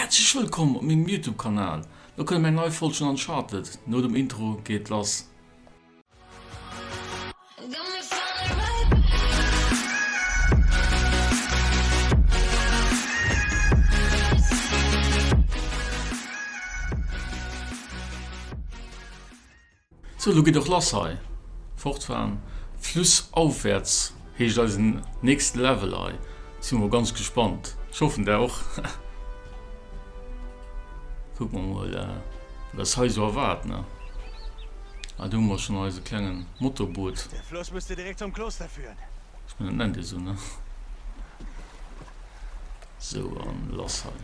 Häerzlech wëllkomm op mengem Youtube Kanal, lo kënnt meng nei Folg schon an Chartlet, no dem Intro geet et lass. Sou, lo geet och lass hei! Fortfahren flussaufwärts heescht eisen nächste Level hei. Sinn mol ganz gespannt, ech hoffen der och. Kucken mer mol wat eis hei sou erwaart ne. Ah do hu mer schon eise klenge Motorboot. Ech mengen dat nennt ee sou ne. Sou an lass hei.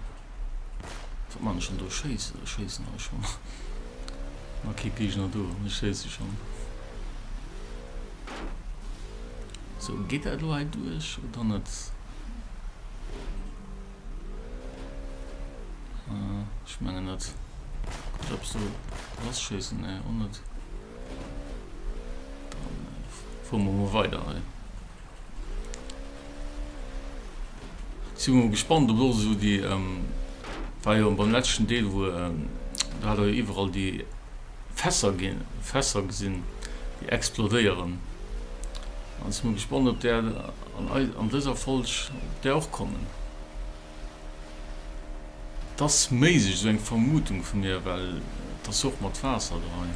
Wat man ech schon do schéissen? Ech schéissen hei schon. Ma kee Gegner do an ech schéisse schon. Sou geet dat lo hei duerch oder net? Äh, ech mengen net. Guck ob so lass schéissen ne och net. Dann äh, fuer mer mol weider hei. Si mol gespannt op lo sou déi ähm, war jo beim letzten Deel wou ähm, do hat der jo iwwerall déi Fässer gin, Fässer gesin déi explodéieren an si mol gespannt op där an eis, an dëser Folg op där och kommen. T'ass méiglech, sou eng Vermutung vu mir, well t'ass jo och mat Waasser do hei.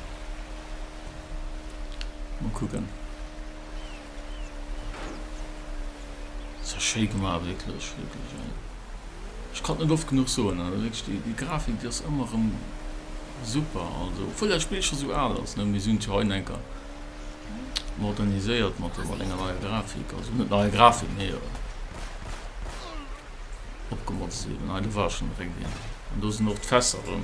Mol kucken. Sou schéi gemaach wierklech wierklech ey. Ech konnt net oft genuch soen also wierklech déi déi Grafik déi ass ëmmer rëm super also obwuel dat Spill scho sou al ass ne mee si hunn et jo hei eng Enker moderniséiert mat mat enger neier Grafik also net neier Grafik mee opgemodst eben hei do war schonn direkt een an do sinn och d'Fässer rëm.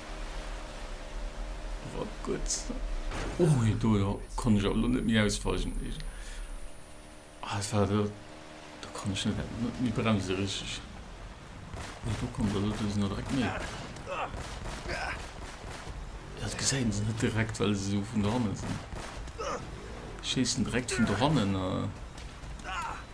Wat gutt. Oh, jo, do jo, konnt ech awer lo net méi ausweichen. Ah, dat war do, do konnt ech net, net méi bremse richteg. Nee, do kommt der do sinn der direkt méi. Dat gesäiten se net direkt, well se so vun der Hanne sinn. Schéissen direkt vun der Hannen. Äh.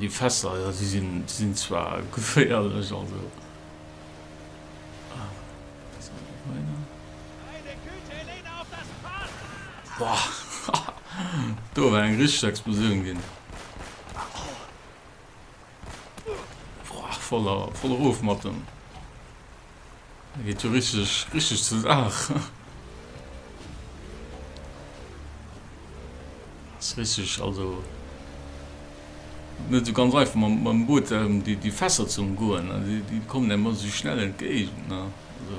Déi Fässer, jo, si sinn zwar geféierlech, also. Boah, do war eng richteg Explosioun ginn. Voll erof mat em. Da geet jo richtig, richtig zur Saach. Das ist richtig, also net so ganz einfach mam, mam Boot ähm, die, die Fässer zu umgoen. Ne? Die, die kommen einem immer so schnell entgegen. Ne? Also.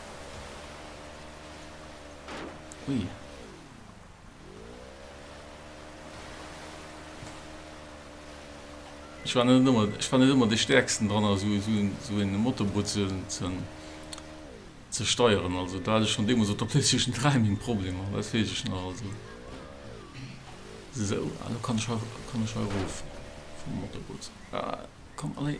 Ui. Ich war net ëmmer, ich war net ëmmer de stärksten dran also so, so en Motorboot ze, ze, ze steieren. Also da hatte schon deemoos op der PlayStation 3 meng Problemer, dat weess ech nach also. So, also kann ich, kann ich erof vum Motorboot. Ah, komm, allez.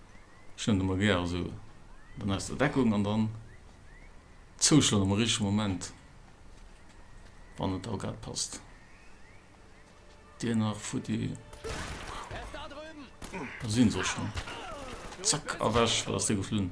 Schnoen de mer gäer esou dann aus der Deckung an dann zouschloen am richtege Moment, wann et da grad passt. Dir nach futti. Da sinn se och schonn. Zack, erwech, wat ass dee geflunn?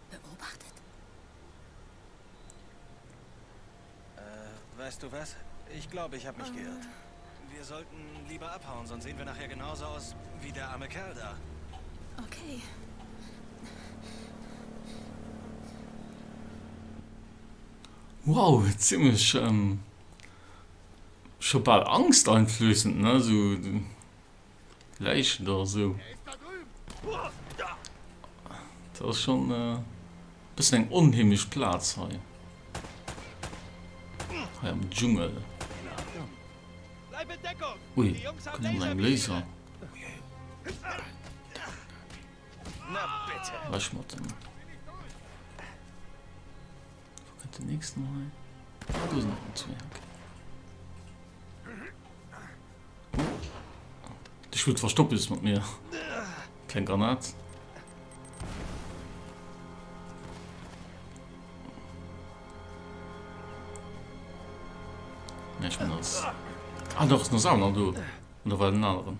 beobachtet. Äh, weißt du was? Ich glaube, ich hab mich geirrt. Wir sollten lieber abhauen, sonst sehen wir nachher genauso aus wie der arme Kerl da. Okay. Wow, ziemlech scho bal angsteinflößend, ne? Sou Läichen do esou. Dat ass schon äh, bis eng onheemlech Platz hei. Hei am Dschungel. Ui, kommen eng Laser. Wasch mat dem. Ech wot verstoppes mat mir Keng Granat. Ech bin als. Ah, doch, no Sauna do. Oder war den aneren?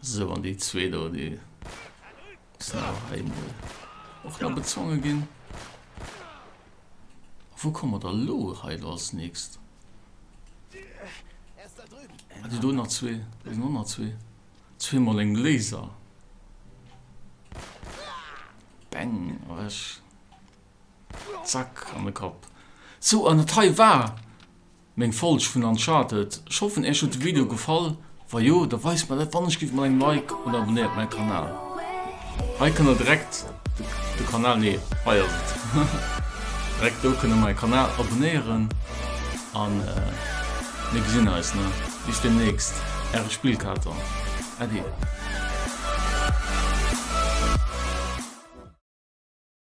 So, an déi zwee do, déi sinn awer heimol och nach bezwonge ginn. Wou kommen wir da lo hei do als nächst? Ah, déi do nach zwee, déi sinn och nach zwee. Zweemal eng Laser. Bang, weg. Zack, an den Kopf. So, an dat hei war Meng Folg vun Uncharted. Ech hoffen Äech huet de Video gefall, wa jo da weist mer dat wann ech giff mat engem Like oder abonnéiert mäi Kanal. Hei kënnt der direkt de Kanal nee hei ass et direkt do kënnt der mäi Kanal abonnéieren an mir gesinn eis ne bis demnächst äre Spillkater Äddi.